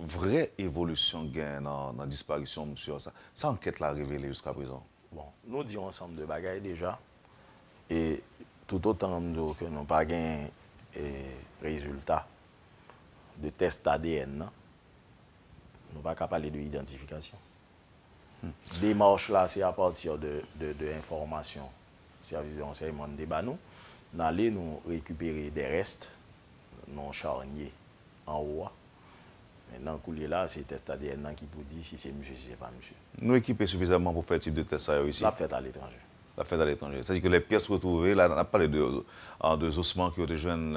Vrè evolisyon gen nan disparisyon msye an. Sa ankèt la revele jiska prezan. Bon, nou di yon ansanm de bagay deja. E toutotan m di w ke nou pa gen rezilta de test adn nan, nou pa ka pale de idantifikasyon. Demach la se apati de enfòmasyon sèvis de ransèyman an te ba nou. N ale nou rekipere de rèst non Charnier anwo a. Mentnan koulye la se tès adn nan ki pou di si se misye si se pa misye. Nou ekipe sifizamman pou fè tip de tès sa yo isit? L ap fèt aletranje. L ap fèt aletranje. Sa di ke lè pyès retwouve, la n ap pale de zosman ke yo te jwenn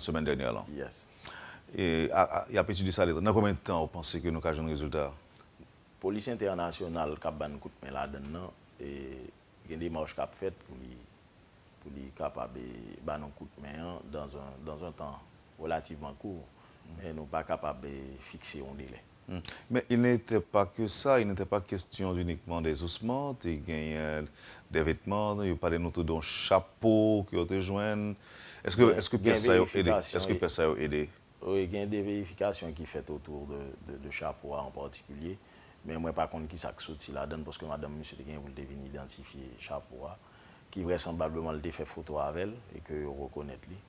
semèn dènyè lan? Yes. Y ap etidye sa aletranje. Nan konbyen tan ou panse ke nou ka jwenn rezilta a? Polis entènasyonal ka ban n kout men ladann nan. Gen demach k ap fèt pou li kapab ban nou kout men an dans un temps relativement court. Men nou pa kapab fikse yon delè. Men il n'était pas que ça, il n'était pas question uniquement des ossements, te genyen des vêtements, yo pale nou tou de yon chapo ke yo te jwenn, eske, eske pyès sa yo ede, eske pyès sa yo ede? Wi, gen de verifikasyon ki fèt otou de chapo a an patikilye, men mwen pa konn kisa k soti ladann paske madanm misye te genyen pou l te vin idantifye chapo a, ki vrèsanblableman li te fè foto avè l e ke yo rekonèt li.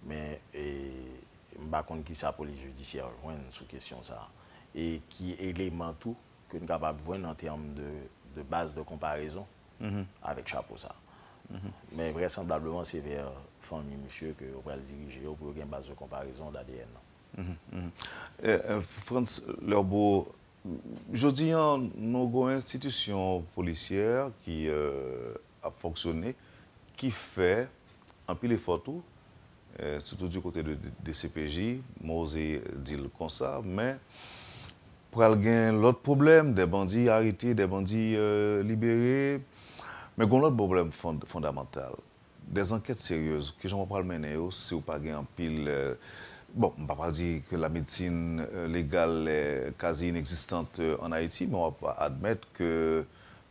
men m pa konn kisa polis jidisyè yo jwenn sou kesyon sa a e ki eleman tou ke n kapab jwenn an tèm de baz de konparezon avèk chapo sa a. Men vrèsanblableman se vè fanmi misye ke yo pral dirije yo pou yo gen baz de konparezon d'ADN nan. Frantz Lherbo, jodi an nou gon enstitisyon polisyè ki. ap fonksyone ki fè anpil efò tou sitou di kote de dcpj Mose di l konsa men pral gen lòt pwoblèm dè bandi arete dè bandi libere men gon lòt pwoblèm fondamantal dè zankèt seryèz kijan wap pral mennen yo si w pa gen anpil bon m pa pral di ke la medsin legal kaze inegzistant an ayiti men wap admèt ke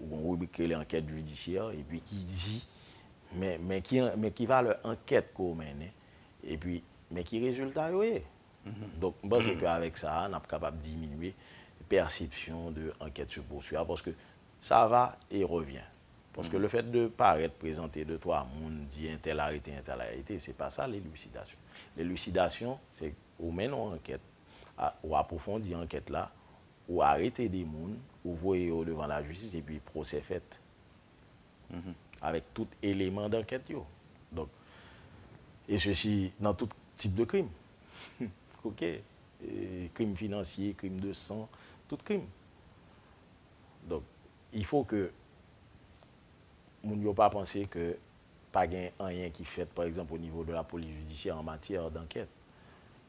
Ou gon ribrik ki rele ankèt jidisyè epi ki di men ki valè ankèt ke w mennen epi men ki rezilta yo ye. Donk m panse ke avèk sa a n ap kapab diminye pèsepsyon de ankèt se poursui a paske sa va e revyen. Paske le fèt de parèt, prezante de twa moun, di entèl arete, entèl arete se pa sa lelusidasyon. Lelusidasyon se ou mennen yon ankèt, ou apwofondi ankèt la, Ou arete 2 moun, ou voye yo devan lajistis epi pwosè fèt. Avèk tout eleman dankèt yo. Donk, e sesi nan tout tip de krim. Ok. Krim finansye, krim de san, tout krim. Donk, il faut ke moun yo pa panse ke pa gen anyen ki fèt pa egzanp o nivo de la polis jidisyè an matyè dankèt.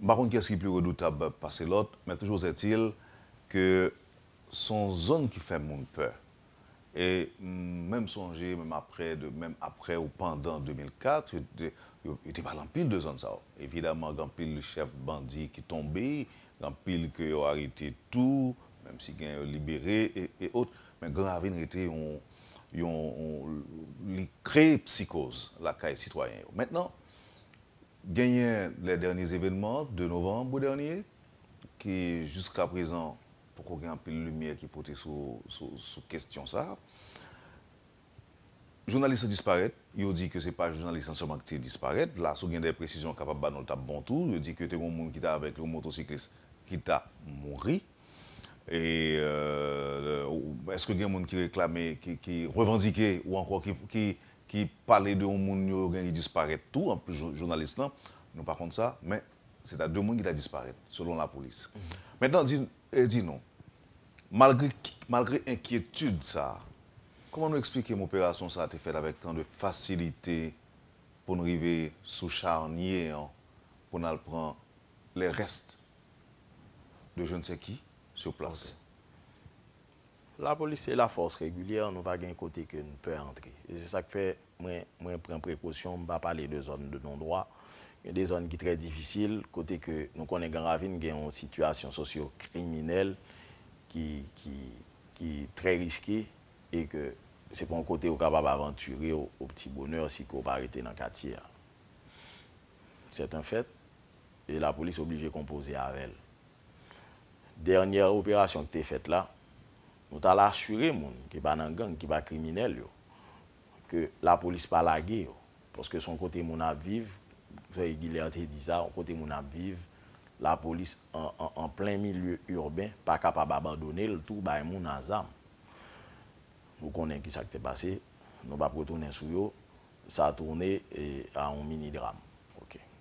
M pa konn kiyès ki pi redoutab pase lòt, men toujou ètil ke s on zòn ki fè moun pè. E m menm sonje menm aprè de menm aprè ou pandan 2004 yo te yo te pale anpil de zòn sa yo. Evidaman gen anpil chèf bandi ki tonbe, gen anpil ke yo arete tou, menm si gen yo libere e e ot, men Gran Ravin rete yon yon li kreye psikoz lakay sitwayen yo. Mentnan. Genyen lè dènye zevenman 2 novanb dènye ki jiska prezan poko gen anpil limyè ki pote sou kestyon sa. Jounalis lan disparèt, yo di ke se pa jounalis lan sèlman ki te disparèt, la si w gen dè presizyon kapab ba nou l tap bon tou, yo di ke te gon moun ki ta avèk li, yon motosiklis ki ta mouri. E èske gen moun ki reklame, ki revandike ou ankò ki ki pale de yon moun yo gen ki disparèt tou anplis jounalis lan, nou pa konn sa, men se ta 2 moun ki ta disparèt selon lapolis. Mentnan di di nou, malgre malgre enkyetid sa a, kòman nou eksplike m operasyon sa a te fèt avèk tan de fasilite pou n rive sou charnye an pou n al pran les restes de je ne sais qui sur place? La polis se la fòs regilyè nou pa gen kote ke n pè antre e se sa k fè mwen mwen pran prekosyon m pa pale de zòn de non dwa gen de zòn ki trè difisil kote ke nou konnen gran ravin gen yon sitiyasyon sosyo kriminèl ki ki ki trè riske e ke se pa yon kote ou kapab avantire w o pti bonè si ke w pa rete nan katye a sèt en fèt e la polis oblije konpoze avè l Dènyè operasyon ki te fèt la, nou t al asire moun ki pa nan gang, ki pa kriminèl yo, ke lapolis pa lage yo. Paske s on kote moun ap viv, Zoe Guilher te di sa, on kote moun ap viv, lapolis an plen milye urben pa kapab abandone l tou bay moun a zam. Nou konnen ki sa k te pase, nou p ap retounen sou yo, sa tourne a on mini drame. Ok.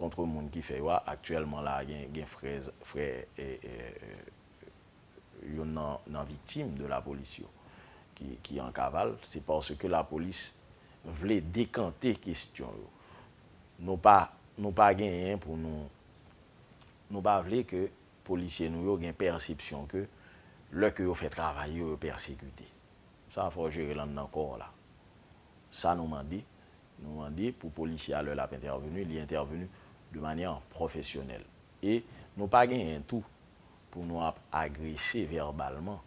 Kontre moun ki fè yo a, aktyèlman la a gen frè frè youn nan nan viktim de lapolis yo ki an kaval, se paske lapolis vle dekante kestyon yo. Nou pa nou pa genyen pou nou nou pa vle ke polisye nou yo gen pèsepsyon ke lè ke yo fè travay yo, yo pèsekite. Sa fò w jere l anndan kò w la. Sa nou mande. Nou mande pou polisye a lè l ap entèveni, li entèveni de manyè pwofesyonèl. E nou pa genyen tou pou nou ap agrese vèbalman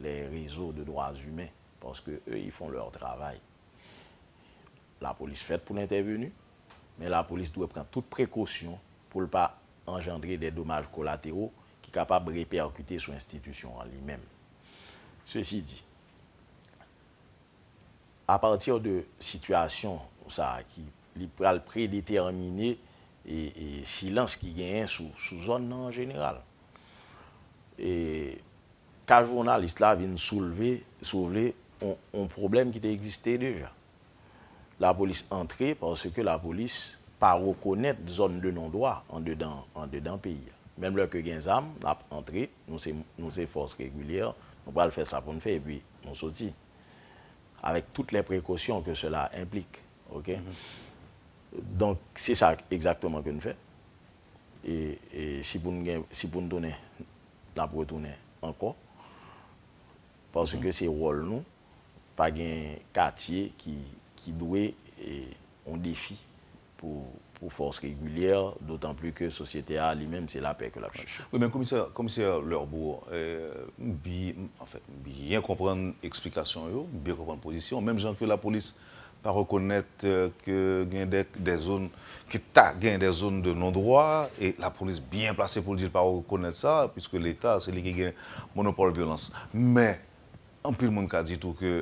lè rezo de dwa imen paske eu ils font leur travail. Lapolis fèt pou l entèveni, men lapolis dwe pran tout prekosyon pou l pa anjandre de domaj kolatero ki kapab repèkite sou enstitisyon an li menm. Sesi di. A pati de sitiyasyon sa a ki li pral predetèmine silans ki genyen sou zòn nan an jeneral. E ka jounalis la vin soulve, si w vle, yon pwoblèm ki te egziste deja. Lapolis antre paske lapolis pa rekonèt zòn de non dwa andedan peyi a. Menm lè ke gen zam, n ap antre, nou se fòs regilyè, nou pral fè sa pou n fè epi nou soti, avèk tout lè prekosyon ke sela enplik, ok. Donk, se sa egzakteman ke nou fè, e si pou nou gen, si pou nou tounen, nap retounen ankò, paske se wòl nou, pa gen katye ki dwe yon defi. pou fòs regilyè, dotan pli ke sosyete a li menm se lapè ke l ap chèche. Wi men komisè, komisè Lorbeau, m bi, anfen, m byen konprann eksplikasyon yo, m byen konprann pozisyon w, menm jan ke lapolis pa rekonèt ke gen dè, dè zòn, ke ta gen dè zòn de non dwa, e lapolis byen plase pou l di l pa rekonèt sa, puiske leta se li ki gen monopòl vyolans. Men, anpil moun ka di tou ke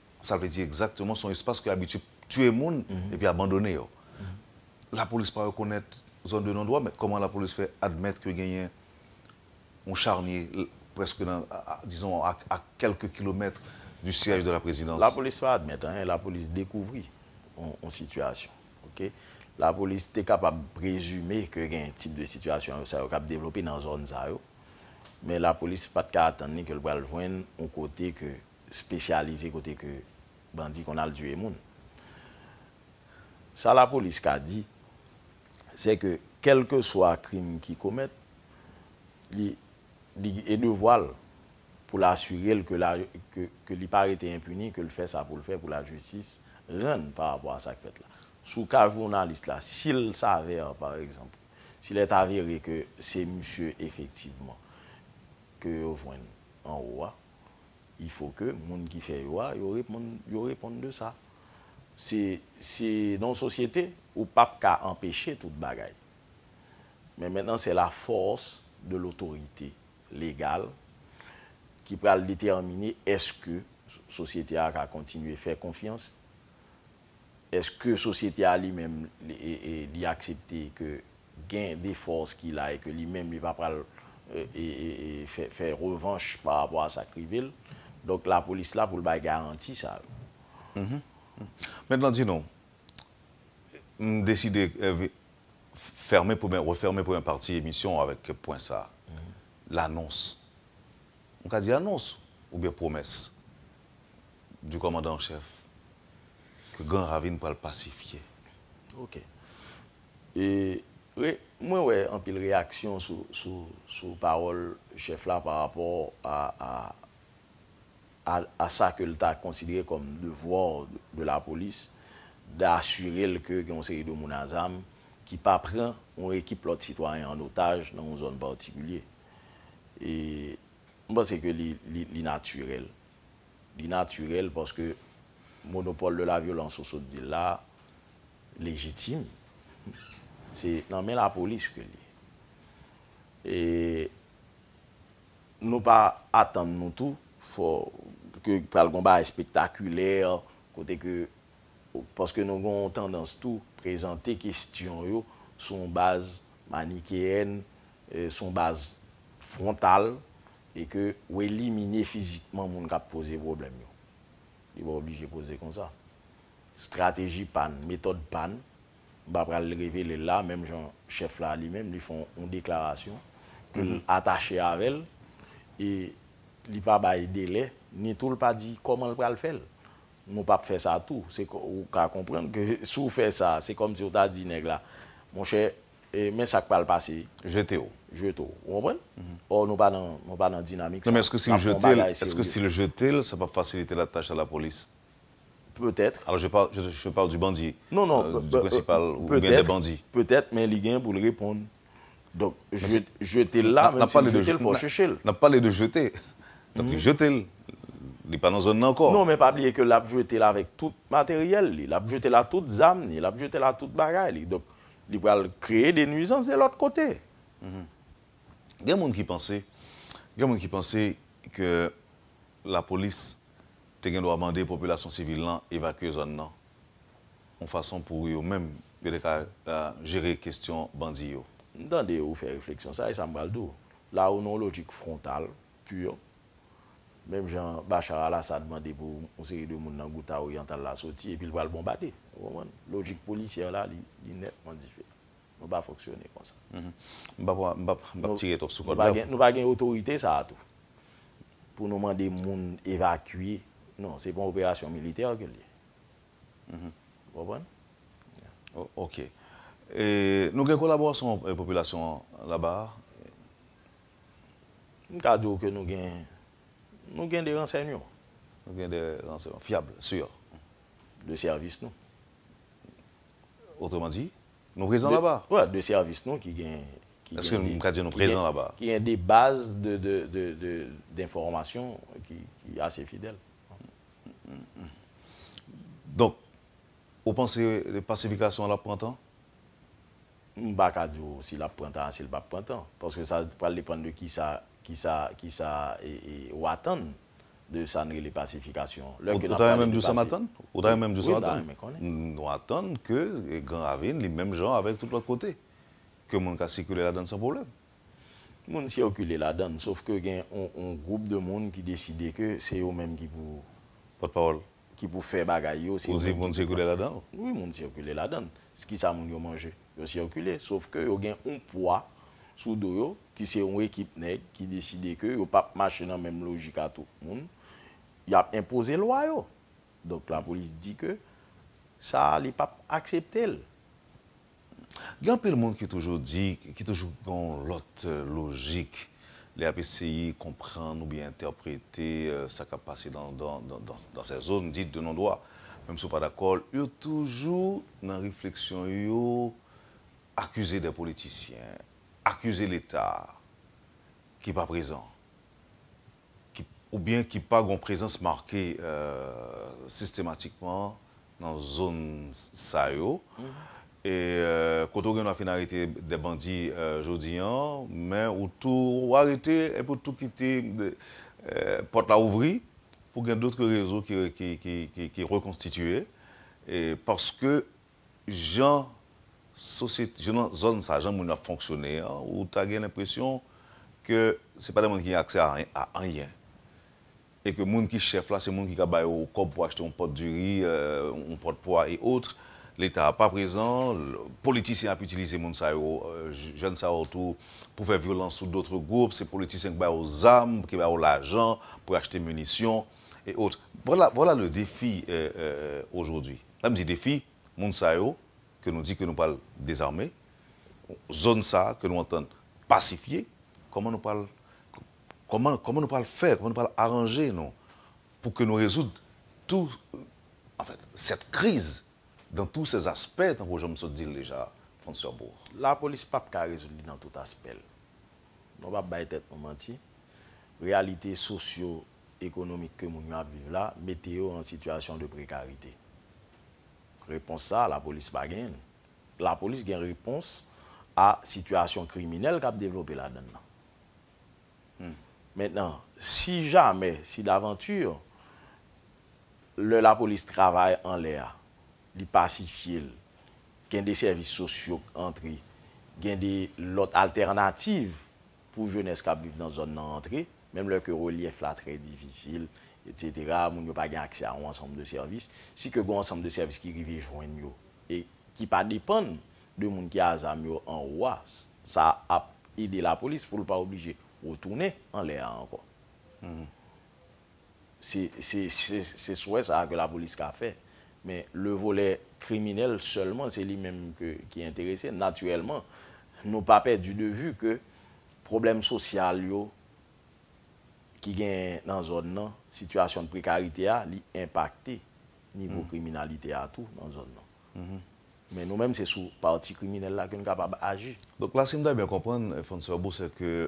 Sa vle di egzakteman son espas ki abitye tiye moun epi abandone yo. Lapolis pa rekonèt zòn de non dwa men kòman lapolis fè admèt ke genyen yon charnye preske nan dizon a kèlke kilomèt di syèj de la prezidans. Lapolis pa admèt anyen, lapolis dekouvri yon sitiyasyon. Ok. Lapolis te kapab prezime ke genyen tip de sitiyasyon sa yo kap devlope nan zòn sa yo men lapolis pat ka atann ni ke l pral jwenn yon kote ke spesyalize kote ke bandi konn al tiye moun. Sa lapolis ka di, se ke kelkeswa krim ki komèt, li e devwa l pou l asire l ke li pa rete enpini, ke l fè sa pou l fè pou lajistis rann pa rapò a sa k fèt la. Sou ka jounalis la, si l save pa egzanp, si l è avere ke se misye efektivman ke yo jwenn anwo a, il faut que moun ki fè yo a yo reponn yo reponn de sa. Se se nan yon sosyete ou pap ka anpeche tout bagay. Men mentnan se la force de l'autorité légale ki pral detèmine eske sosyete a ka kontinye fè konfyans Eske sosyete a li menm li aksepte ke gen de fòs ki la e ke li menm li pa pral fè revanch pa rapò a sa k rive l? Donk lapolis la pou l bay garanti sa yo. Mèt Landino, m deside fèmen, refèmen premyè pati emisyon an avèk pwen sa a, lanons M ka di anons oubyen pwomès du kòmandan an chèf ke Gran Ravin pral pasifye. Ok. E re, mwen wè anpil reyaksyon sou, sou, sou pawòl chèf la pa rapò a, a, a, a sa ke l ta konsidere kòm devoir de la police de assurer l ke gen yon seri de moun a zam ki pa pran yon ekip lòt sitwayen an otaj nan yon zòn particulier. M panse ke li natirèl. Li natirèl paske monopòl de la vyolans ou sot di la lejitim. Se nan men lapolis ke li. E nou pa atann nou tou fò ke pral gon bagay spektakilè kote ke paske nou gon tandans tou prezante kestyon yo sou yon baz manikeyèn Se yon baz fwontal e ke ou elimine fizikman moun kap poze pwoblèm yo. Li pa oblije poze konsa. Strateji pa n, metòd pa n, m pa pral revele l la, menm jan chèf la li menm li fè yon deklarasyon ke l atache avè l e li pa bay delè ni tou l pa di kòman l pral fè l. Nou pap fè sa tou. Ou ka konprann ke si w fè sa, se kòmsi w ta di nèg la, monchè E men sak pral pase. Jete w. Jete w. Ou konprann? Or nou pa nan, nou pa nan dinamik sa. Non men eske si l jete l, eske si l jete l sa pap fasilite la tach a la polis? Peut-être. Alors je parle, je, je parle du bandit. Non non, euh, du principal ou bien des peut-être, bandits. peut-être men li gen pou l reponn. Donk je, jete l la, menm si l jete l fò w cheche l. Nap pale de jete. Donk li jete l. Li pa nan zòn nan ankò. Non men pa bliye ke lap jete l avèk tout materyèl li. Lap jete l a tout zam li. Lap jete l a tout bagay li. Donk Li pral kreye de nwizans de lòt kote. Gen moun ki panse, gen moun ki panse ke lapolis te gen dwa mande popilasyon sivil lan evakye zòn nan, yon fason pou yo menm yo te ka jere kestyon bandi yo. M tande ou fè refleksyon sa, e sa m pral di w. La ou nan yon lojik frontal. Pur. Menm jan Bashar al Assad mande pou yon seri de moun nan Ghouta Oriental la soti epi l pral bonbade. Ou konprann? Lojik policière la li netman diferan. Nou pa fonksyone konsa. M pap m pap m pap tire twòp sou kòd la. Nou pa gen otorite sa a tou. Pou nou mande moun evakye. Non, se pa yon operasyon militè ke l ye. Ou konprann? Ok. E nou gen kolaborasyon popilasyon an laba a? M ka di w ke nou gen, nou gen de ransèyman. Nou gen de ransèyman fyab, sur. De sèvis nou. Otreman di, nou prezan laba. Wè, de sèvis nou ki gen. Eske m ka di nou prezan laba. Ki gen de baz denfòmasyon ki ase fidèl. Donk, ou panse pasifikasyon an ap pran tan? M pa ka di w si l ap pran tan a si l pap pran tan. Paske sa pral depann de kisa kisa kisa ou atann de sa n rele pasifikasyon. Lè ke n ap pale de pasi. Ou ta renmen m di w sa m atann? Ou ta renmen m di w sa m atann? Wi, m ta renmen konnen. Nou atann ke Gran Ravin li menm jan avèk tout lòt kote. Ke moun ka sikile ladann san pwoblèm. Moun sikile ladann. Sof ke gen yon gwoup de moun ki deside ke se yo menm ki pou. Pòtpawòl. ki pou fè bagay yo se yo menm ki pou pran l. Wi moun sikile ladan l. Kisa moun yo manje? Yo sikile. Sof ke yo gen yon pwa sou do yo ki se yon ekip nèg ki deside ke yo pap mache nan menm lojik a tout moun. Y ap enpoze lwa yo. Donk lapolis di ke sa a li pap aksepte l. Gen anpil moun ki toujou di, ki toujou gen yon lòt lojik lè y ap eseye konprann oubyen entèprete sa k ap pase dans sè zone dite de non dwa. Menm si w pa dakò, yo toujou nan refleksyon yo akize dè politisyen, akize leta ki pa prezan. oubyen ki pa gon prezans make sistematikman nan zòn sa yo, e kote ou gendwa fin arete de bandi jodi an, men ou tou ou arete epi ou tou kite pòt la ouvri pou gen dotre rezo ki rekonstitiye, paske Jan sosyete, jan nan zòn sa, jan moun yo ap fonksyone an, ou ta gen lenpresyon ke se pa de moun ki gen aksè a anyen. E ke moun ki chèf la, se moun ki ka ba yo kòb pou achte yon pòt diri, yon pòt pwa e otre. Leta a pa prezan, politisyen ap itilize moun sa yo, jèn sa yo tou pou fè vyolans sou dotre gwoup, se politisyen ki ba yo zam, ki ba yo lajan pou yo achte minisyon e otre. Vwala, vwala le defi ojodwi. L ap di defi moun sa yo ke nou di ke nou pral dezame, zòn sa ke nou antann pasifye, kòman nou pral kòman kòman nou pral fè, kòman nou pral aranje nou pou ke nou rezoud tou anfèt sèt kriz dan tou sè aspè tankou jan m sot di l deja Frantz Cherbourg. Lapolis p ap ka rezoud li nan tout aspè l. Nou p ap bay tèt nou manti. Reyalite sosyo ekonomik ke moun yo ap viv la mete yo an sitiyasyon de prekarite. Repons sa a lapolis pa genyen l. Lapolis gen repons a sitiyasyon kriminèl k ap devlope ladan l lan. Mentnan, si jamè, si davanti, lè lapolis travay anlè a, li pasifye l, gen de sèvis sosyo k antre, gen de lòt altènativ pou jenès kap viv nan zòn nan rantre, menm lè ke relyèf la trè difisil, etc. Moun yo pa gen aksè a yon ansanm de sèvis, si ke gen yon ansanm de sèvis ki rive jwenn yo, e ki pa depann de moun ki a zam yo anwo a, sa ap ede lapolis pou l pa oblije retounen anlè a ankò. se swè sa a ke lapolis ka fè. Men le volè kriminèl sèlman se li menm ki enterese. Natirèlman, nou pa pèdi de vi ke pwoblèm sosyal yo ki genyen nan zòn nan, sitiyasyon de prekarite a, li enpakte nivo kriminalite a tou nan zòn nan. Men nou menm se sou pati kriminèl la ke nou kapab aji. Donk la si m ta byen konprann, Francois Bou, se ke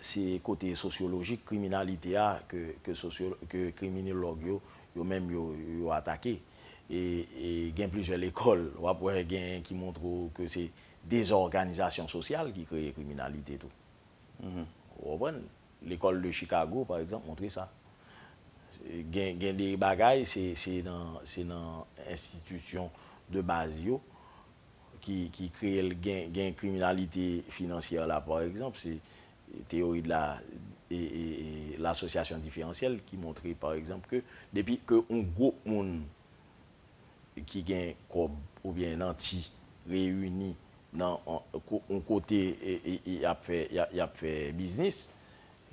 se kote sosyolojik kriminalite a ke kriminilòg yo, yo menm yo atake. E gen plizyè lekòl, w ap wè gen ki montre w ke se dezòganizasyon sosyal ki kreye kriminalite tou. Ou konprann? Lekòl de Chikago, pa egzanp, montre sa. Gen de bagay, se nan enstitisyon de baz yo, ki kreye l gen kriminalite finansyè la pa egzanp se teyori de la l asosyasyon diferansyèl ki montre pa egzanp ke depi ke yon gwoup moun ki gen kòb oubyen nanti reyini nan yon kote y ap fè biznis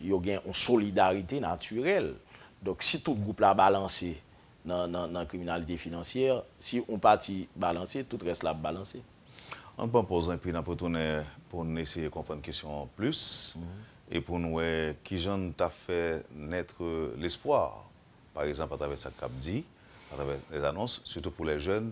yo gen yon solidarite natirèl donk si tout gwoup la balanse nan kriminalite finansyè, si yon pati balanse, tout rès la ap balanse. Ann pran pòz enpi n ap retounen pou n eseye konprann kesyon an plis e pou n wè ki jan n ta fè naitre l'espoir, par exemple, atravè sa k ap di, atravè lèzanons, sitou pou lèjèn,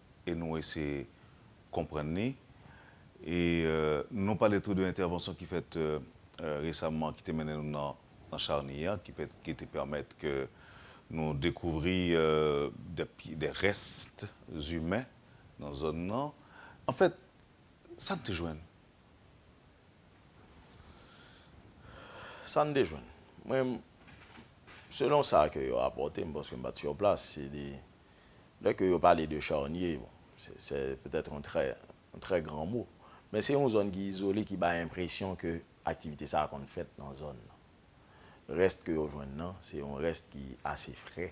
e nou eseye konprann li. E nou pale tou de entèvansyon ki fèt resamman ki te mennen nou nan Charny an, ki te pèmèt ke nou dekouvri de rest imen nan zòn nan. An fèt, sa n te jwenn? Sa n te jwenn? Mwen, selon sa ke yo rapòte, m paske m pa t sur plas, se de Lè ke yo pale de Charnier, bon, se, sè petèt yon trè, yon trè gran mo. Men se yon zòn ki izole ki bay enpresyon ke aktivite sa a konn fèt nan zòn nan. Rès ke yo jwenn nan, se yon rès ki ase fre.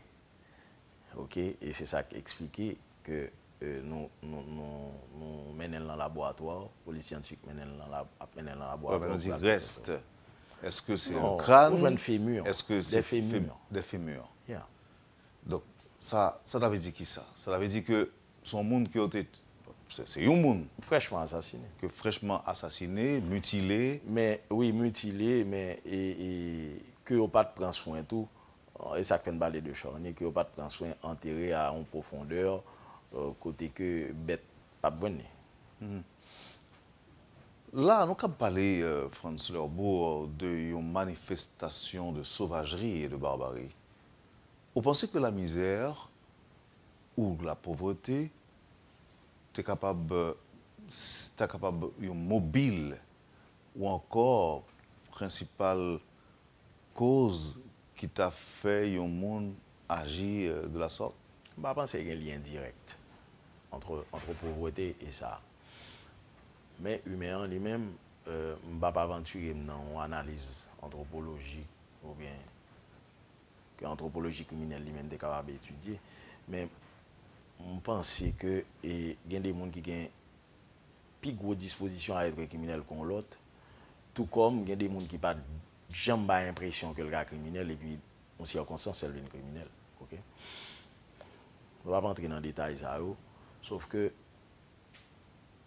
Ok, e se sa k esplike ke nou, nou, nou, nou mennen l nan laboratwa, polis syantifik mennen l nan lab, ap mennen l nan laboratwa. Lè nou di rès, èske se yon kran? Non, ou jwenn femur, des femurs. Des femurs. Yeah. Donk, sa, sa ta vle di kisa? Sa ta vle di ke se yon moun ke yo te, se, se yon moun. Frèchman asasine. Ke frèchman asasine, mitile. Men, wi, mitile, men, e, e, ke yo pa t pran swen tou, e sa k fè n pale de Charny, ke yo pa t pran swen antere a yon pwofondè kote ke bèt pa p jwenn li. La a nou kab pale, Frantz Lerbourg, de yon manifestasyon de sovajri e de barbari. Ou panse ke la misère ou la pauvreté te kapab ta kapab yon mobil ou ankò prensipal koz ki ta fè yon moun aji de la sorte? M pa panse gen lyen dirèk antre antre pauvreté e sa. Men imen an li menm, m p ap avanture m nan yon analiz antropolojik oubyen ke antropoloji kriminèl li menm te kapab etidye, men m panse ke gen de moun ki gen pi gwo dispozisyon a etre kriminèl ke yon lòt, tou kòm gen de moun ki pa janm bay enpresyon ke l ka kriminèl epi yon sikonstans fè l vin kriminèl. Ok. Mwen pa p antre nan detay sa yo, sof ke,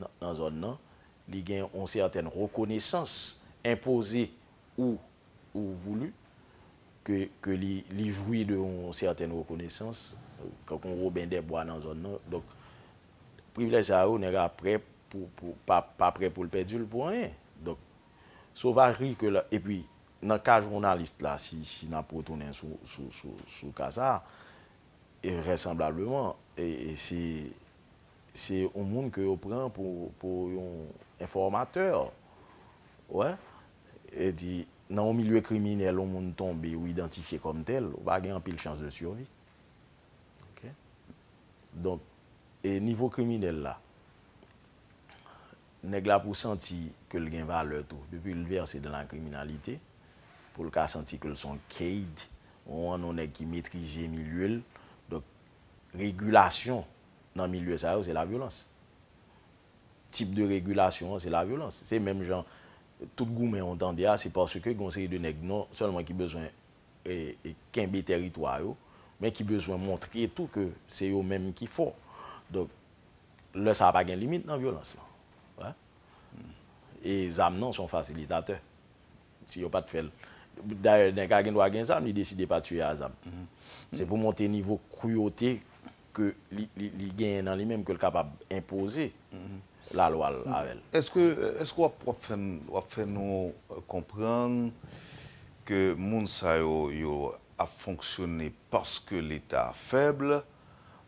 nan zòn nan, li gen yon sètèn rekonesans enpoze ou ou voulu ke ke li li jwi de yon sètèn rekonesans tankou yon Woben dè Bwa nan zòn nan. Donk privilèj sa yo nèg la prè pou pou pa pa prè pou l pèdi l pou anyen. Donk sovajri ke la epi nan ka jounalis la si si n ap retounen sou sou sou sou ka sa e vrèsanblableman e e se Se yon moun ke yo pran pou yon enfòmatè. Ou wè? E di, nan yon milye kriminèl yon moun tonbe ou idantifye kòm tèl, ou pa gen anpil chans de survie. Ok? Donk, e nivo kriminèl la, nèg la pou santi ke l gen valè tou, depi l vèse dan la kriminalite, pou l ka santi ke l son Cade, yon nèg ki metrize milye l. Donk, regilasyon nan milye sa yo se lavyolans. Tip de regilasyon an se lavyolans. Se menm jan tout goumen ou tande a se paske gen yon seri de nèg non sèlman ki bezwen kenbe tèritwa yo men ki bezwen montre tou ke se yo menm ki fò. Donk, lè sa a pa gen limit nan vyolans lan. E zam nan se yon fasilitatè. Si yo pat fèl. Dayè nèg a gendwa gen zam li deside pa tiye a zam. Se pou monte nivo kwyote ke li genyen nan li menm ke l kapab enpoze lalwa l avèl. Eske eske wap fè wap fè nou konprann ke moun sa yo yo ap fonksyone paske leta fèb?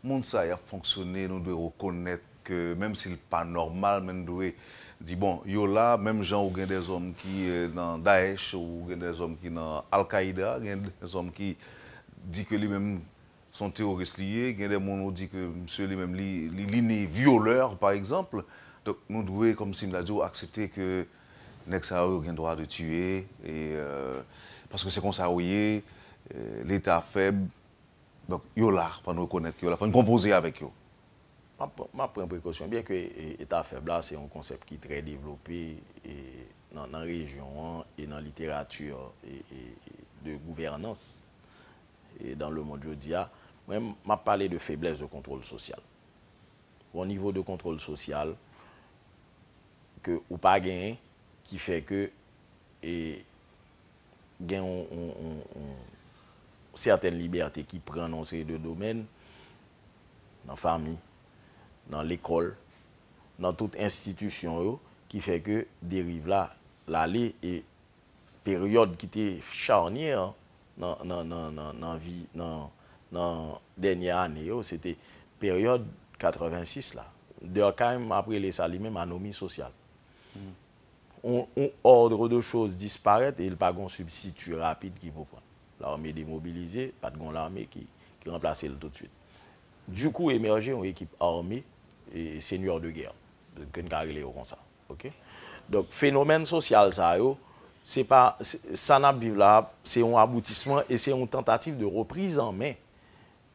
Mond sa y ap fonksyone nou dwe rekonèt ke menm si l pa nòmal men n dwe di bon yo la menm jan ou gen de zòm ki nan Daesh ou gen de zòm ki nan Al-Qaida gen de zòm ki di ke li menm se yon teworis li ye gen de moun ou di ke misye li menm li li ni vyolè pa egzanp donk nou dwe kòm si m ta di w aksepte ke nèg sa yo yo gen dwa de tiye paske se konsa yo ye leta fèb. Donk, yo la, fò n rekonèt yo la, fò n konpoze avèk yo. M ap pran prekosyon, byen ke eta fèb la se yon konsèp ki trè devlope nan rejyon an e nan literati de gouvènans dan le mond jodi a, men m ap pale de feblès de kontwòl sosyal. Yon nivo de kontwòl sosyal ke ou pa genyen ki fè ke e. gen yon sètèn libète ki pran nan yon seri de domèn, nan fanmi, nan lekòl, nan tout enstitisyon yo, ki fè ke deriv la lale e peryòd ki te charnyè an nan vi, nan dènyè ane yo, se te peryòd 86 la. Durkheim ap rele sa li menm anomi sosyal. Yon ordre de chose disparèt e li pa gen yon sibstiti rapid ki pou pran. Lame demobilize, pa t gen yon lame ki ranplase l toutswit. Du coup emèje yon ekip ame e seigneur de guerre, ke n ka rele yo konsa. Ok? Donk fenomèn sosyal sa yo, se pa, sa n ap viv la, se yon aboutisman e se yon tantativ de reprise en main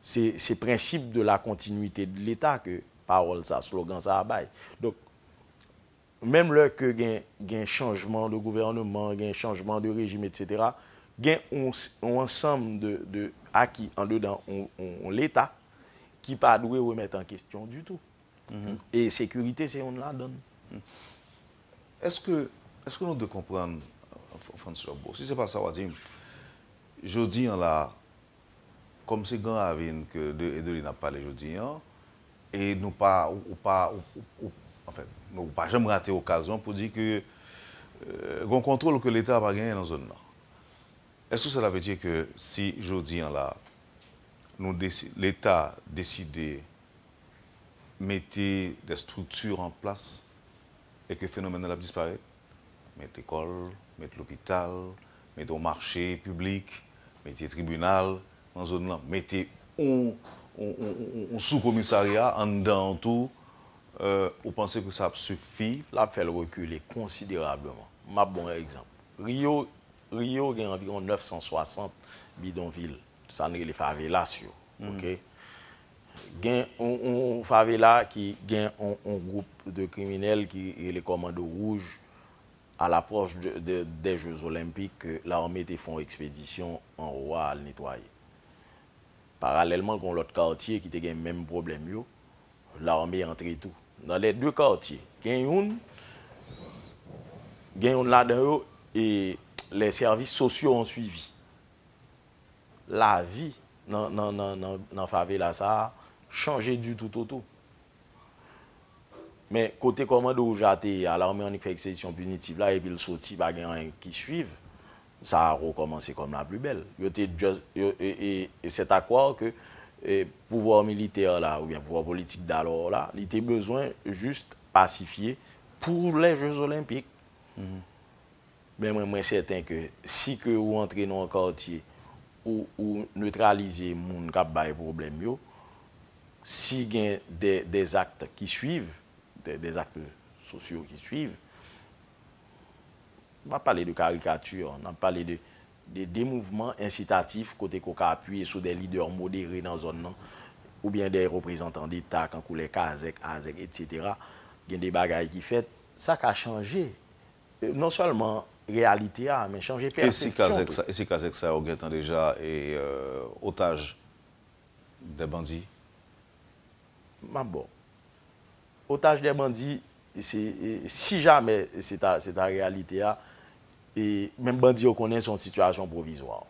Se prensip de la continuité de l'Etat ke pawòl sa, slogan sa a bay. Donk, menm lè ke gen chanjman de gouvèneman, gen chanjman de rejim etsetera, gen yon ansanm de aki andedan yon Leta ki pa dwe remèt an kestyon ditou. E sekirite se yonn ladan l. Eske nou dwe konprann, Frantz Lobau, si se pa sa w a di m, jodi an la a, Kòm se Gran Ravin ke de e de li nap pale jodi an, e nou pa, ou pa, ou, anfen, ou pa janm rate okazyon pou di ke gon kontwol ke leta pa genyen nan zòn nan. Eske sela ve di ke si jodi an la, nou desi, leta deside mete des strikti an plas e ke fenomèn nan ap disparèt? Met lekòl, met lopital, met yon mache piblik, mete tribinal nan zòn lan, mete yon sou komisarya anndan an tou, ou panse ke sa ap sifi? L ap fè l rekile konsiderableman. M ap ban w yon egzanp. Rio, Rio gen anviwon 960 bidonvil, sa n rele favelas yo. ok gen yon favela ki gen yon group de kriminèl ki rele kòmando wouj a la pwòch dè jeu zolenpik ke larme te fon ekspedisyon anwo a al netwaye paralèlman gon lòt kartye ki te gen menm pwoblèm yo larme antre tou nan lè de kartye gen yon gen yon ladan yo e lè sèvis sosyo an swivi. lavi nan favela sa a chanje du tout au tout. Men kote kòmando wouj la te ye a, lame annik fè ekspedisyon pinitiv la epi l soti pa gen anyen ki swiv, sa a rekòmanse kòm la pli bèl. Yo te just, e c'est à croire que pouvoir militaire la oubyen pouvoir politique d'alors la, li te bezwen just pasifye pour les jeux olympiques. Ben mwen mwen sèten ke si ke ou antre nan yon kartye ou ou netralize moun kap bay pwoblèm yo, si gen dè dè zakt ki swiv, dè dè zakt sosyo ki swiv, m pa pale de karikati, n ap pale de de de mouvman ensitatif kote ke ou ka apiye sou dè lidè modere nan zòn nan oubyen dè reprezantan deta kankou lè kazèk, azèk etc. Gen de bagay ki fèt, sa ka chanje Non sèlman reyalite a, men chanje pèsepsyon tou. E si kazèk sa yo gentan deja otaj dè bandi? M ap ba w. Otaj dè bandi, si jamè se ta reyalite a, menm bandi yo konnen se yon sitiyasyon pwovizwa.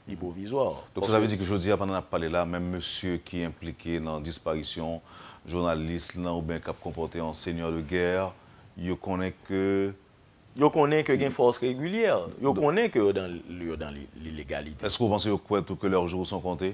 Li pwovizwa. Donk sa ta vle di ke jodi a pandan nap pale la menm mesye ki enplike nan disparisyon jounalis lan oubyen kap konpòte an seigneur de guerre yo konnen ke. Yo konnen ke gen fòs regilyè. Yo konnen ke yo dan lilegalite. Eske ou panse yo kwè tou ke lèr jou son konte?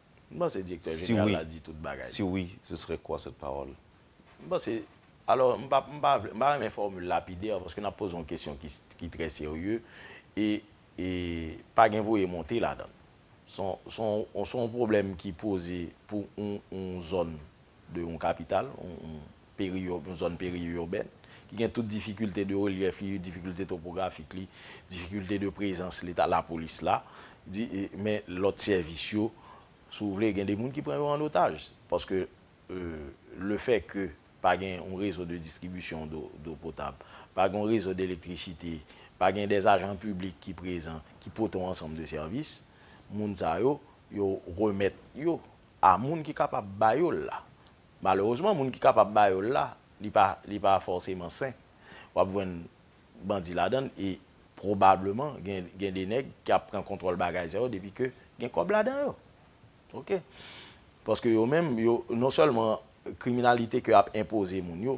M panse Direktè Jeneral la di tout bagay. Si wi, si wi, ce serait quoi cette parole? M panse, alò m pa m pa vle m pa renmen fòmil lapidè paske n ap poze yon kesyon ki ki trè serye e e pa gen voye monte ladan l. S on s on s on pwoblèm ki poze pou yon yon zòn de yon kapital yon yon Yon zòn peri-urbaine ki gen tout difikilte de relyèf li, difikilte topografik li, difikilte de prezans leta, lapolis la, men lòt sèvis yo, si w vle, gen de moun ki pran yo an otaj. Paske le fè ke pa gen yon rezo de distribisyon do potab, pa gen yon rezo de elektrisite, pa gen de ajan piblik ki prezan, ki pote yon ansanm de sèvis, moun sa yo, yo remèt yo a moun ki kapab ba yo l la. Malerezman moun ki kapab ba yo l la, li pa li pa fòseman sen. W ap jwenn bandi ladan l e pwobableman gen gen de nèg ki ap pran kontwòl bagay sa yo depi ke gen kòb ladan yo. Ok. Paske yo menm yo non sèlman kriminalite ke y ap enpoze moun yo,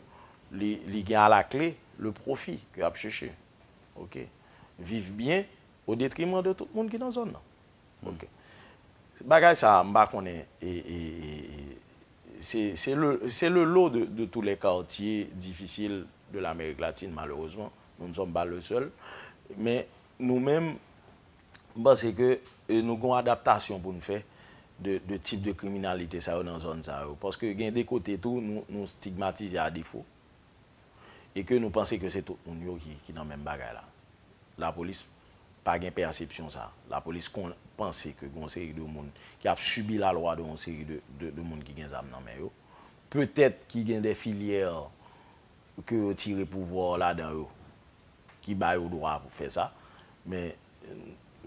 li li gen alakle le pwofi ke y ap chèche. Ok. Viv byen odetriman de tout moun ki nan zòn nan. Ok. Bagay sa a, m pa konnen e, e, e, e, se, se le, se le lot de, de tous les quartiers difficiles de l'Amérique latine malheureusement, nous ne sommes pas le seul. Men, nou menm, m panse ke e nou gen yon adaptasyon pou n fè de, de tip de kriminalite sa yo nan zòn sa yo. Paske gen de kote tou nou, nou stigmatize a defo. e ke nou panse ke se tout moun yo ki nan menm bagay la. Lapolis pa gen pèsepsyon sa. Lapolis konn panse ke gen yon seri de moun ki ap sibi lalwa de yon seri de moun ki gen zam nan men yo. Petèt ki gen de filyè ke yo tire pouvwa yo ladan yo ki ba yo dwa pou fè sa. Men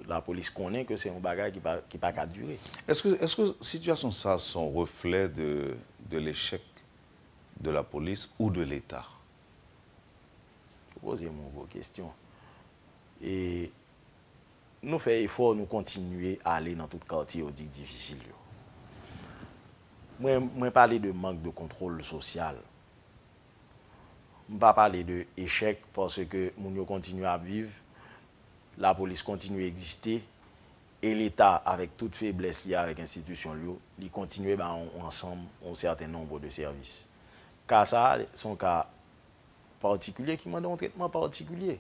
lapolis konnen ke se yon bagay ki pa ka dire. Eske sitiyasyon sa se yon reflè de lechèk de la police ou de l'Etat? Ou poze m yon gwo kestyon. E nou fè efò, nou kontinye ale nan tout katye yo di difisil yo. Mwen, mwen pale de mank de kontwòl sosyal. M pa pale de echèk paske moun yo kontinye ap viv, lapolis kontinye egziste, E Leta, avèk tout feblès li avèk enstitisyon l yo, li kontinye ba yon ansanm, yon sèten nonbo de sèvis. Ka sa a, se yon ka patikilye ki mande yon tretman patikilye.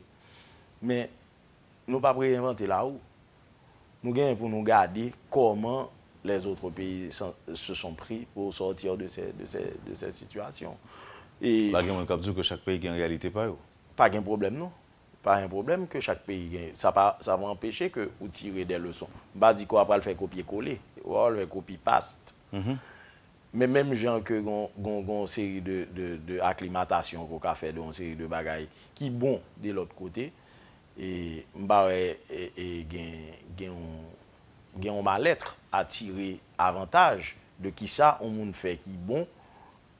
Men, nou p ap reyenvante larou. Nou genyen pou nou gade kòman les autres pays se sont pris pour sortir de ces, de ces, de ces situations. E. La gen moun k ap di w ke chak peyi gen reyalite pa yo. Pa gen pwoblèm non. Pa gen pwoblèm ke chak peyi gen, sa pa, sa pa anpeche ke ou tire dè leson. M pa di ke w a pral fè kopye kole, ou pa pral fè copy paste. Men menm jan ke gon, gon, gon seri de, de, de aklimatasyon ke w ka fè de yon seri de bagay ki bon de lòt kote, e m pa wè e, e gen, gen yon, gen yon mal être a tire avantaj de kisa yon moun fè ki bon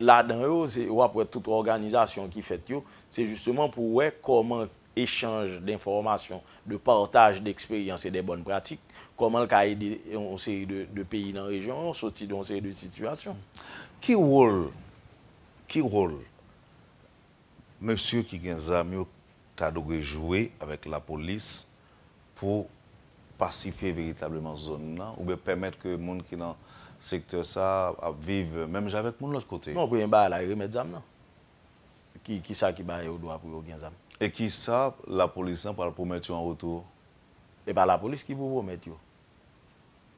Ladan yo, se w ap wè tout òganizasyon ki fèt yo, se jisteman pou wè kòman echanj denfòmasyon, de partaj deksperyans e de bòn pratik, kòman l ka ede yon seri de peyi nan rejyon an soti de yon seri de sitiyasyon. Ki wòl ki wòl mesye ki gen zam yo ta dwe jwe avèk lapolis pou pasifye veritableman zòn nan oubyen pèmèt ke moun ki nan sektè sa ap viv menm jan avèk moun lòt kote? Non, premye bagay la e remèt zam nan. Ki sa ki ba yo dwa pou yo gen zam? E ki sa lapolis lan pral pwomèt yo an retou? E pa lapolis ki pou pwomèt yo.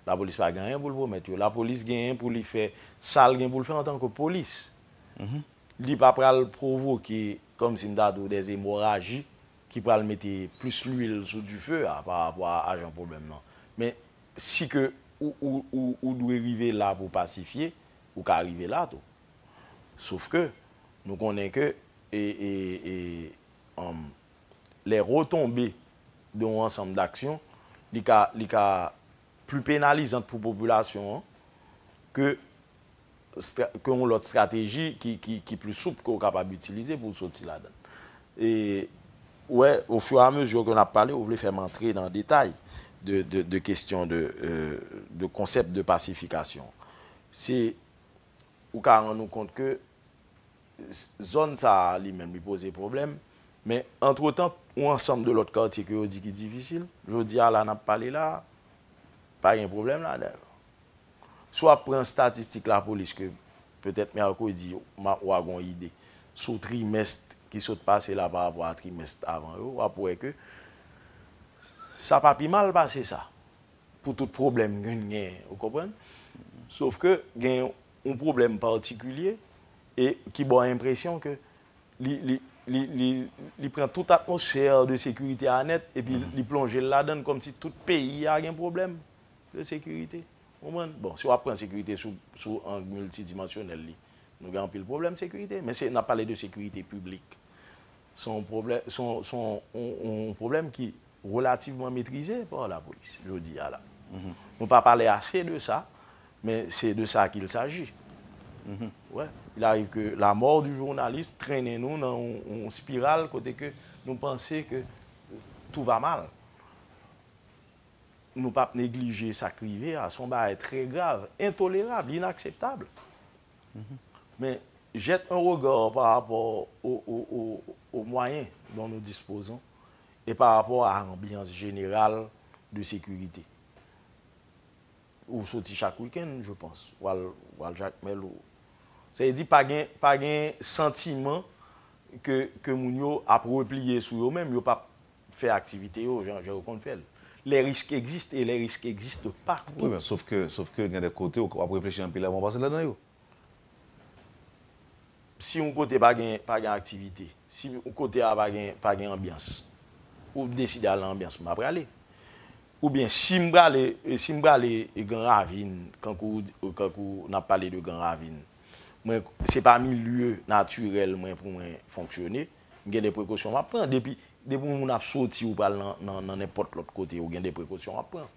Lapolis pa gen anyen pou l pwomèt yo. Lapolis genyen pou li fè sa l gen pou l fè antanke polis. Li pa pral pwovoke, kòm si m ta di w, dè emoraji ki pral mete plis lwil sou dife a pa rapò a ajan pwoblèm nan. Men, si ke ou dwe rive la pou pasifye, ou ka rive la tou. Sof ke, nou konnen ke les retombées de yon ansanm d'action, li ka pli penalizant pou popilasyon an ke ke yon lòt strateji ki pli soup ke ou kapab itilize pou ou soti ladan. E, ou wè, o fur et à mesure ke n'ap pale, ou vle fè m antre nan detay de kestyon de, de konsèp de pasifikasyon. Se, ou ka rann ou kont ke zòn sa a li menm li poze pwoblèm, men antretan, yon ansanm de lòt katye ke yo di ki difisil, jodi a la n'ap pale la a, pa gen pwoblèm ladan yo. Si w ap pran statistik lapolis ke petèt mèkredi ou a gen yon ide sou trimès ki sot pase la pa rapò a trimès avan yo, w ap wè ke sa pa pi mal pase sa pou tout pwoblèm ke n genyen, ou konprann. Sof ke gen yon pwoblèm patikilye e ki ba w enpresyon ke li pran tout atmosfè de sekirite a nèt epi li plonje l ladan l kòmsi tout peyi a gen pwoblèm. Se sekirite. Konprann? Bon, si w ap pran sekirite sou, sou ang miltidimansyonèl li, nou gen anpil pwoblèm sekirite. Men se, n ap pale de sekirite piblik. Se yon pwoblè, se yon, se yon, yon, yon pwoblèm ki relativman metrize pa lapolis jodi a la. Nou pa pale ase de sa, men se de sa kil saji. Wè. Il arrive que la mort du journaliste trennen nou nan yon, yon spiral kote ke nou panse ke tout va mal. Nou pap neglije sa k rive a. Se yon bagay trè grav, entolerab, inakseptab. Men, jette un regard par rapport aux moyens dont nous disposons et par rapport à l'ambiance générale de sécurité. Ou soti chak week-end, je pense, ou al Jacmel. Sa vle di pa gen santiman ke moun yo ap repliye sou yo menm, yo pap fè aktivite yo jan yo konn fè l. Les risques existent et les risques existent partout. Wi men sof ke, sof ke gen de kote ou ap reflechi anpil avan ou pase ladan yo. Si yon kote pa gen, pa gen aktivite, si yon kote a pa gen, pa gen anbyans, ou deside al nan anbyans, m pa prale. Oubyen si m prale, si m prale Gran Ravin, kankou ou di, kankou n ap pale de Gran Ravin, mwen, se pa milieu naturel mwen pou mwen fonksyone. M gen de prekosyon map pran. Depi yon moun ap soti ou pral nan nenpòt lòt kote ou gen de prekosyon wap pran.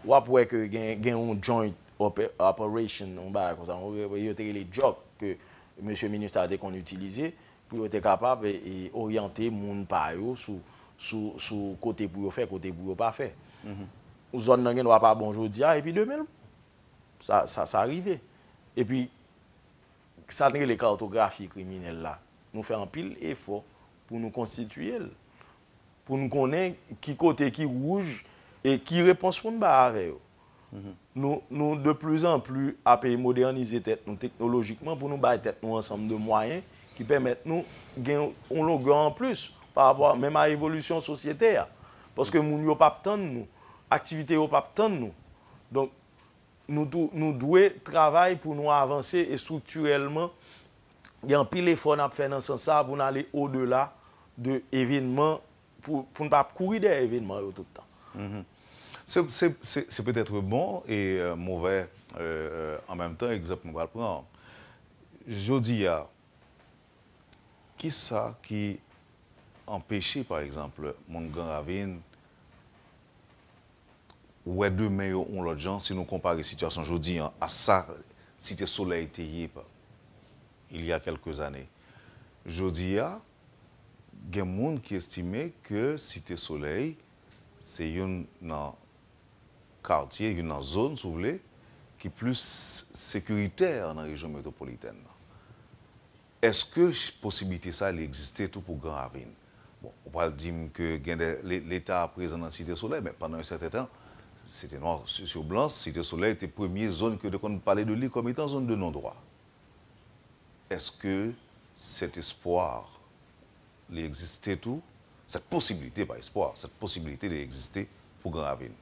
Wap wè ke gen yon joint operation yon bagay konsa yo te rele jòk ke mesye Minustah te konn itilize pou yo te kapab oryante moun pa yo sou kote pou yo fè, kote pou yo pa fè. Zòn nan gen dwa pa bon jodi a epi demen l bon. Sa rive. Epi. Sa n rele kartografi kriminèl la, nou fè anpil efò pou nou konstitiye l, pou n konnen ki kote ki wouj e ki repons pou n bay avè yo. Nou nou de plis an plis ap modènize tèt nou teknolojikman pou nou bay tèt nou ansanm de mwayen ki pèmèt nou gen yon longè an plis parapò a menm a evolisyon sosyete a. Paske moun yo p ap tann nou, aktivite yo p ap tann nou. Donk. Nou tou, nou dwe travay pou nou avanse estriktirèlman. Gen anpil efò n ap fè nan sans sa a pou n ale odela de evènman, pou n pa ap kouri dèyè evènman yo tout tan. Se petètre bon e movè an menm tan egzanp nou pral pran an. Jodi a, ki sa ki anpeche pa egzanp moun Gran Ravin, wè demen yo yon lòt jan si nou konpare sitiyasyon jodi an a sa Site Solèy te ye il y a quelques années. Jodi a, gen moun ki estime ke Site Solèy se youn nan katye, youn nan zòn si w vle, ki plis sekiritè nan rejyon metwopolitèn nan. Eske posibilite sa li egziste tou pou Gran Ravin? Bon, ou pral di m ke gen de leta prezan nan Site Solèy, men pandan yon sèten tan, se te nwa sou blan, Site Solèy te premye zòn ke yo te konn pale de li kòm etan zòn de non dwa. Eske cet espoir li egziste tou, cette possibilité, pa espoir, cette possibilité li egziste pou Gran Ravin?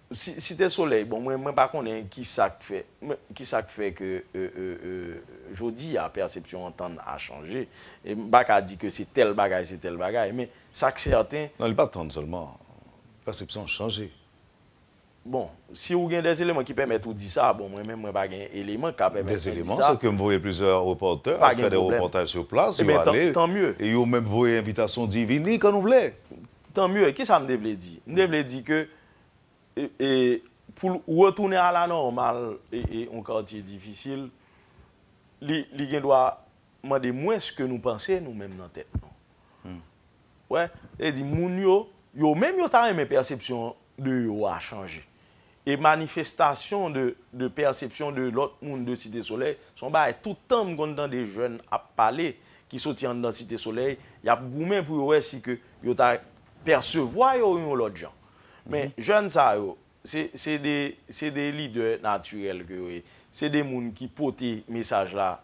Site Solèy bon mwen mwen pa konnen ki sa k fè ki sa k fè ke jodi a pèsepsyon antann a chanje e m pa ka di ke se tèl bagay se tèl bagay men sa k sèten. Non li pa antann sèlman pèsepsyon an chanje. Bon si ou gen dè eleman ki pèmèt ou di sa bon mwen menm mwen pa gen eleman k ka pèmèt mwen di sa. Dè eleman se ke m voye plizyè repòtè al fè dè repòtaj sou plas yo ale e yo menm voye envitasyon di vini kan nou vle. Tanmye ki sa m te vle di m te vle di ke e pou l retounen a la nòmal e yon katye difisil, li gen dwa mande mwens ke nou panse nou menm nan tèt nou. Ou wè? Sa vle di moun yo, yo menm yo ta renmen pèsepsyon de yo a chanje. E manifestasyon de pèsepsyon de lòt moun de Site Solèy, se yon bagay tout tan m konn tande jèn ap pale ki soti anndan Site Solèy, y ap goumen pou yo wè si ke yo ta pèsevwa yo yon lòt jan. Men jèn sa yo, se de lidè natirèl ke yo ye. Se de moun ki pote mesaj la,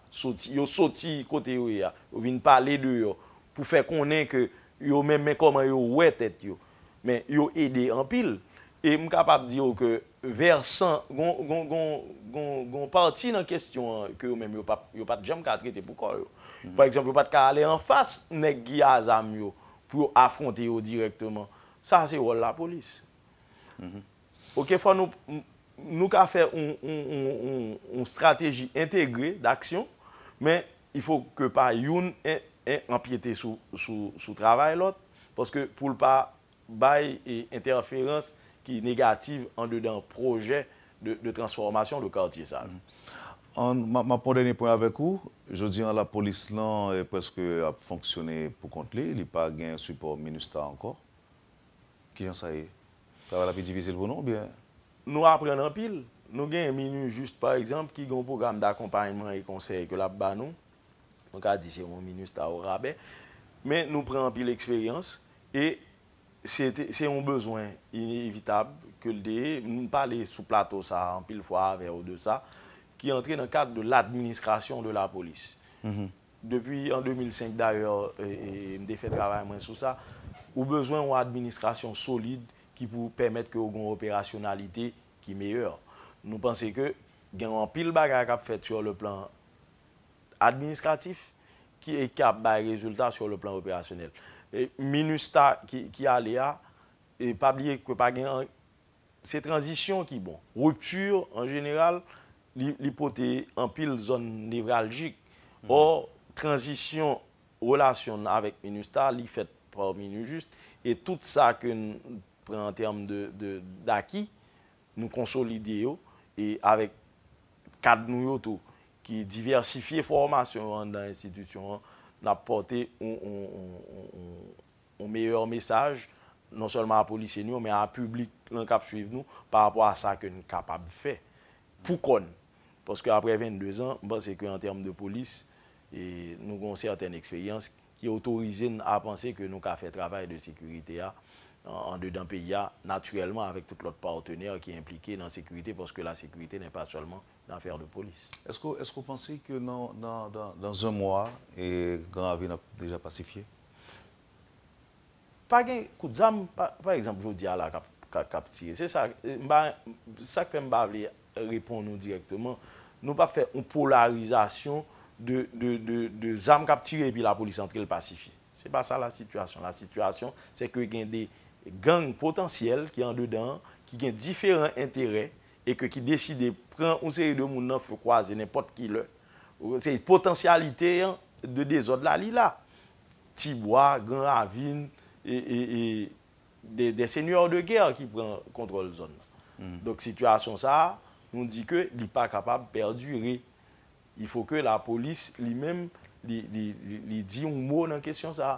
yo soti kote yo ye a, yo vin pale deyò pou fè konnen ke yo menm men kòman yo wè tèt yo. Men yo ede anpil. E m kapab di yo ke vèsan, gon pati nan kestyon an ke yo menm yo pat janm ka trete pou kò yo. Pa egzanp, yo pat ka ale anfas nèg ki a zam yo Pou yo afronte yo dirèkteman. Sa a se wòl lapolis. Ok, fò nou, nou ka fè yon, yon estrateji entegre daksyon, men il faut ke pa youn anpyete sou, sou, sou travay lòt, paske pou l pa bay entèferans ki negativ andedan pwojè de transfòmasyon de kartye sa yo. An, m ap pran yon dènye pwen avèk ou. Jodi an, lapolis lan prèske ap fonksyone pou kont li, li pa gen sipò Minustah ankò. Ki jan sa ye? Travay la pi difisil pou nou oubyen? Nou aprann anpil. Nou gen Minujust, pa egzanp, ki gen yon pwogram dakonpayman e konsèy ke l ap ba nou. Nou ka di se yon Minustah orabè. Men nou pran anpil eksperyans e Se te, se yon bezwen inevitab ke l te ye, m pale sou plato sa a anpil fwa avè w de sa, ki antre nan kad de l'administration de la police. Depi an 2005 dayè, m te fè travay mwen sou sa, ou bezwen yon administration solid ki pou pèmèt ke w gen yon operasyonalite ki meyè. Nou panse ke gen anpil bagay k ap fèt sur le plan. administratif ki e ki ap bay rezilta sur le plan operasyonèl. E minustah ki ki ale a, e pa bliye ke pa gen an, se tranzisyon ki bon. Rupture an jeneral li li pote anpil zòn nevraljik. Ò tranzisyon relasyon n avèk minustah li fèt par minujust e tout sa ke n pran an term de de daki nou konsolide yo e avèk kad nou yo tou. ki divèsifye fòmasyon yo anndan enstitisyon an, n ap pòte yon meyè mesaj non sèlman a polisye nou yo men a piblik lan k ap swiv nou pa rapò a sa ke n kapab fè pou kò n. Paske aprè 22 zan, m panse ke an tèm de polis, nou gen yon sètèn eksperyans ki otorize n a panse ke nou ka fè travay de sekirite a andedan peyi a natirèlman avèk tout lòt patenè ki enplike nan sekirite paske lasekirite nè pa sèlman nan affaire de police. Eske eske ou panse ke nan nan nan dans un mois e gran ravin ap deja pasifye? Pa gen kout zam pa pa egzanp jodi a la kap ka kap tire se sa m pa sak fè m pa vle reponn ou dirèkteman nou pap fè yon polarizasyon de de de de zam kap tire epi lapolis antre l pasifye se pa sa la sitiyasyon la sitiyasyon se ke gen de gang potansyèl ki andedan an ki gen diferan enterè e ke ki deside pran yon seri de moun nan fe kwaze nenpòt ki lè, se potansyalite an de dezòd la li la. Ti bwa, gran ravin, e, e, e, des seigneurs de guerre ki pran kontwòl zòn nan. Donk sitiyasyon sa a, nou di ke li pa kapab perdure. Il faut ke la polis li menm li, li, li, li di yon mo nan kesyon sa a.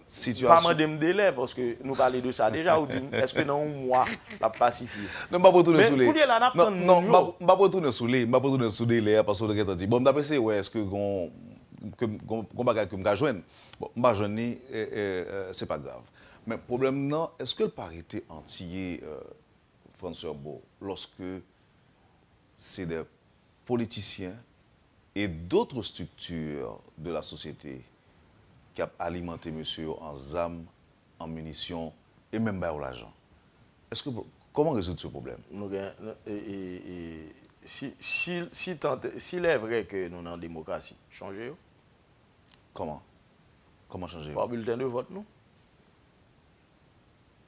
sitiyasyon. Pa mande m delè paske nou pale de sa deja ou di m eske nan yon mwa l ap pasifye. Non m pap retounen sou li. Men kounye la n ap tann moun yo. Non m pap retounen sou li, m pap retounen sou delè a paske ou te gentan di. Bon m t ap eseye wè eske gon bagay ke m ka jwenn. Bon m pa jwenn li se pa grav. Men pwoblèm nan eske l pa rete antye Frantz Herbo lòske se de politiciens et d'autres structures de la société ki ap alimante mesye yo an zam, an munitions et menm ba yo lajan. Eske Koman rezoud ce problème? Nou gen si tant est, s'il est vrai ke nou nan demokrasi, chanje yo. Koman? Koman chanje yo? Pa bulletin de vote nou.